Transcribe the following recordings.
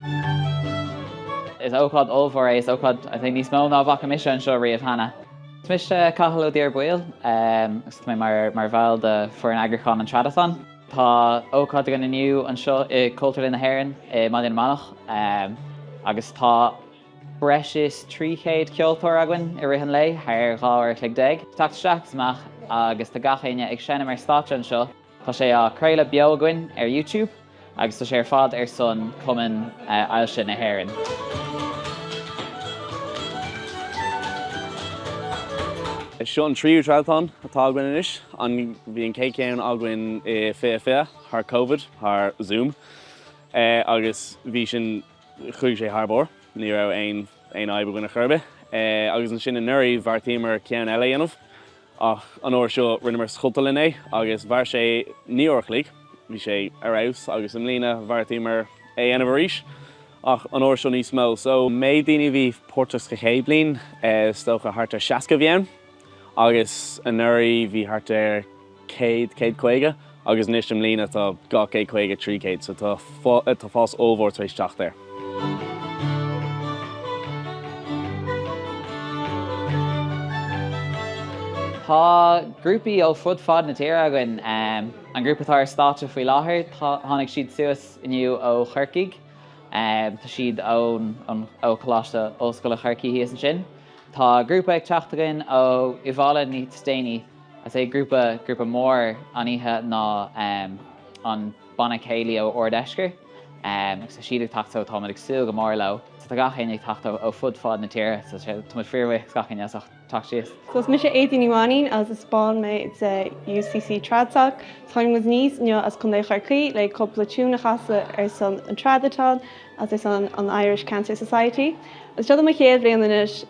Is ócáid ollmhór é, is ócáid I think níos mó ná a bhfaca mise anseo riamh cheana. Mise Cathal Ó Dearbaoil agus tá mé mar bhall de foireann eagrúcháin an Tradathon. Tá ócáid againn inniu anseo i Cultúrlann na hÉireann i mBaile na Manach agus tá breis is 300 ceoltóir againn i rith an lae, thar dhá uair a chloig déag. Teacht isteach is amach agus tá gach éinne ag seinm ar stáitse anseo. Tá sé á chraoladh beo againn ar YouTube agus tá sé ar fad ar son Cumann Ailse na hÉireann. Seo an tríú Tradathon atá againn anois. Bhí an chéad cheann againn i 2020 thar Covid, thar Zoom, agus bhí sin, chuaigh sé thar barr, ní raibh aon fhadhb againn ar chor ar bith. Agus ansin anuraidh bheartaíomar ceann eile a dhéanamh. Ach an uair seo rinneamar sa Chultúrlann é agus mhair sé naoi uair a chloig. Bhí sé ar fheabhas agus i mbliana bheartaíomar é a dhéanamh arís ach an uair seo níos mó. So an méid daoine a bhí páirteach sa chéad bliain is dócha thart ar 60 a bhí ann agus anuraidh bhí thart ar 100, 150. agus anois i mbliana tá dhá chéad caoga trí chéad so tá fás ollmhór tar éis teacht air. Tá grúpaí ó fud fad na tíre againn. An grúpa atá ar stáitse faoi láthair tháinig siad suas inniu ó Chorcaigh. Tá siad ó Choláiste Ollscoile Chorcaí thíos ansin. Tá grúpa ag teacht againn ó Iubhaile níos déanaí. Is é grúpa grúpa mór an oíche ná an banna céilí ó Ard Eascair agus tá siad ag teacht so táimid ag súil go mór leo. So tá gach éinne ag teacht ó ó fud fad na tíre so táimid fíor bhuíoch do gach éinne as ucht teacht síos. So is mise Aedín Ní Mhainín agus is ball mé de UCC TradSoc. Táimid aníos inniu as Contae Chorcaí le cúpla tiún a chasadh ar son an Tradathon. is an Irish Cancer Society. Is seo é mo chéad bhliain anois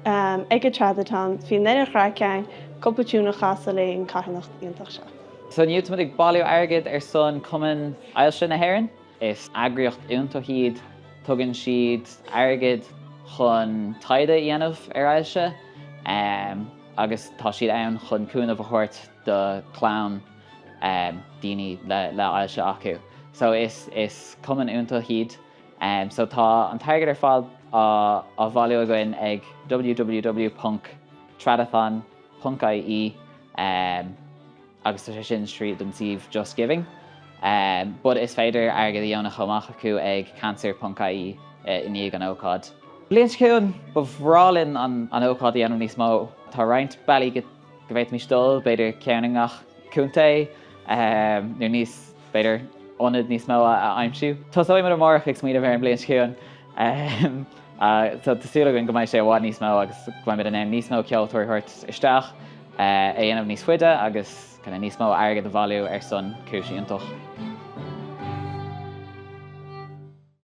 ag an Tradathon. Beidh neart craic ann, cúpla tiún a chasadh leis an carthanacht iontach seo. So inniu táimid ag bailiú airgid ar son Cumann Ailse na hÉireann. Is eagraíocht iontach iad. Tugann siad airgead chun taighde a dhéanamh ar ailse agus tá siad ann chun cúnamh a thabhairt do chlann daoine le ailse acu. So is cumann iontach iad. So tá an t-airgead ar fad á bhailiú againn ag www ponc tradathon ponc ie agus tá sé sin tríd an suíomh Just Giving but is féidir airgead a dheonú chomh maith acu ag cancer ponc ie i ndiaidh an ócáid. Bliain seo chugainn, ba bhreá linn an ócáid a dhéanamh níos mó. Tá roinnt bealaí. go bhféadfaimis dul, b'fhéidir, ceann i ngach contae nó níos, b'fhéidir, ionad níos mó a aimsiú. Tosóidh muid amárach ag smaoineamh ar an mbliain seo chugainn. Tá súil againn go mbeidh sé i bhfad níos mó agus go mbeimid in ann níos mó ceoltóirí a thabhairt isteach, é a dhéanamh níos faide agus níos mó airgid a bhailiú ar son cúis fhiúntach.